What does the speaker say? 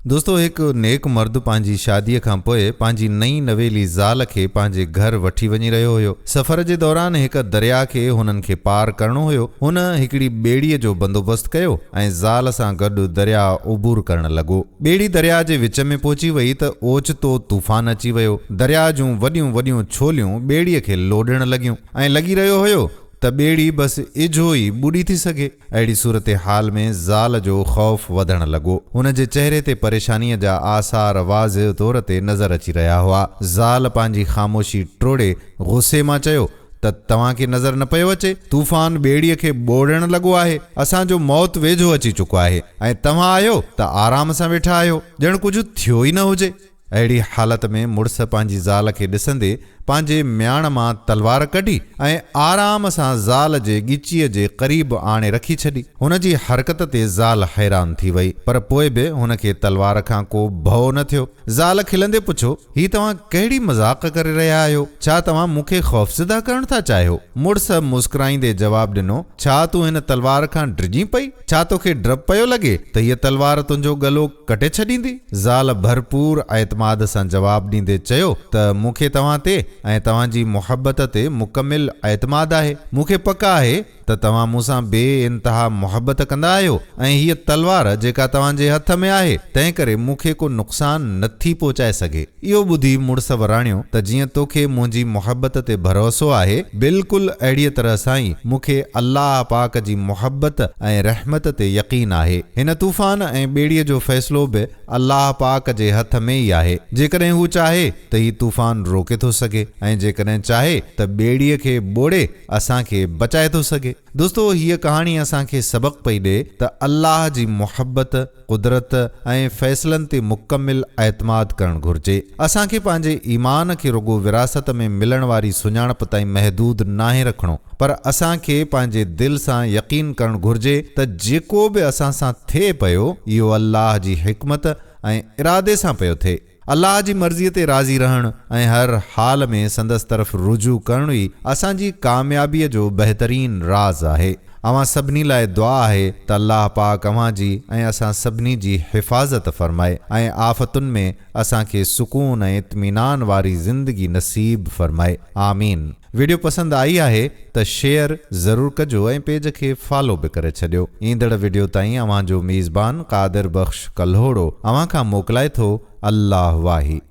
دوستو هڪ نيڪ مرد پنهنجي شاديء کان پوء پنهنجي نئين نويلي زال کي پنهنجي گهر وٺي وڃي رهيو هيو. سفر جي دوران هڪ درياء کي هنن کي پار ڪرڻو هيو. هن هڪڙي ٻيڙيء جو بندوبست ڪيو ۽ زال سان گڏ درياء عبور ڪرڻ لڳو. ٻيڙي درياء جي وچ ۾ پهچي وئي ته اوچتو طوفان اچي ويو. درياء جون وڏيون وڏيون ڇوليون ٻيڙيء کي لوڏڻ لڳيون ۽ لڳي رهيو هيو ته ٻيڙي بس اجهو ئي ٻڏي ٿي سگهي. اهڙي صورتحال ۾ زال جو خوف وڌڻ لڳو. هن جي چهري تي پريشانيء جا آثار واضع طور تي نظر اچي رهيا هئا. زال پنهنجي خاموشي ٽوڙي غصي مان چيو ته توهان کي نظر نه پيو اچي؟ طوفان ٻيڙيء کي ٻوڙڻ لڳو آهي. اسان جو موت ويجهو اچي چڪو آهي ۽ توهان آهيو ته آرام سان ويٺا آهيو، ڄڻ ڪجهه ٿيو ئي نه هجي. اهڙي حالت ۾ مڙس پنهنجي زال کي ڏسندي پنهنجي مياڻ مان تلوار ڪڍي ۽ آرام سان زال جي ڳچيء جي قريب آڻي رکي ڇڏي. هن جي حرڪت تي زال حيران ٿي وئي، پر پوء به هن کي تلوار کان ڪو ڀؤ نه ٿيو. زال کلندي پڇيو، هي توهان ڪهڙي مذاق ڪري رهيا آهيو؟ ڇا توهان مون کي خوفزده ڪرڻ ٿا چاهيو؟ مڙس مسڪرائيندي جواب ڏنو، ڇا تون هن تلوار کان ڊڄين پئي؟ ڇا توکي ڊپ پيو لڳي ته هيء تلوار تنهنجو ڳلو ڪٽي ڇڏيندي؟ زال ڀرپور اعتماد سان جواب ڏيندي چيو ته مون کي توهان تي ۽ توهان جي محبت تي مڪمل اعتماد آهي. مون کي پڪ آهي ته توهان مون سان بي انتها محبت ڪندا آهيو ۽ هيء تلوار جيڪا توهان جي هٿ ۾ آهي تنهنڪري مون کي ڪو نقصان نٿي پهچائي سگهي. اهو ٻڌي مڙس وراڻيو ته جيئن توکي منهنجي محبت تي ڀروسو آهي، بلڪل اهڙيء طرح سان ئي مون کي الله پاڪ جي محبت ۽ رحمت تي يقين آهي. هن طوفان ۽ ٻيڙيء جو فيصلو به الله پاڪ جي هٿ ۾ ئي آهي. جيڪڏهن هو چاهي ته هي طوفان روڪي ٿو سگهي ۽ جيڪڏهن چاهي ته ٻيڙيء کي ٻوڙي اسان کي بچائي ٿو سگهي. دوستو هيء ڪهاڻي اسان کي سبق پئي ڏئي ته الله جي محبت، قدرت ۽ فيصلن تي مڪمل اعتماد ڪرڻ گهرجي. اسان کي پنهنجي ايمان کي رڳو وراثت ۾ ملڻ واري سڃاڻپ تائين محدود ناهي رکڻو پر اسان کي پنهنجي دل سان يقين ڪرڻ گهرجي ته جيڪو به اسان سان ٿئي پيو اهو الله جي حڪمت ۽ ارادي سان پيو ٿئي. الله جي مرضيء تي راضي رهڻ ۽ هر حال ۾ سندس طرف رجوع ڪرڻ ئي اسان جي ڪاميابيء جو بهترين راز آهي. اوهان سڀني لاء دعا آهي ته الله پاڪ اوهان جي ۽ اسان سڀني جي حفاظت فرمائي ۽ آفتن ۾ اسان کي سڪون ۽ اطمينان واري زندگي نصيب فرمائي. آمين. ويڊيو پسند آئي آهي ته شيئر ضرور ڪجو ۽ پيج کي فالو به ڪري ڇڏيو ايندڙ ويڊيو تائين اوهان جو ميزبان قادر بخش ڪلهوڙو اوهان کان موڪلائي ٿو الله واهي.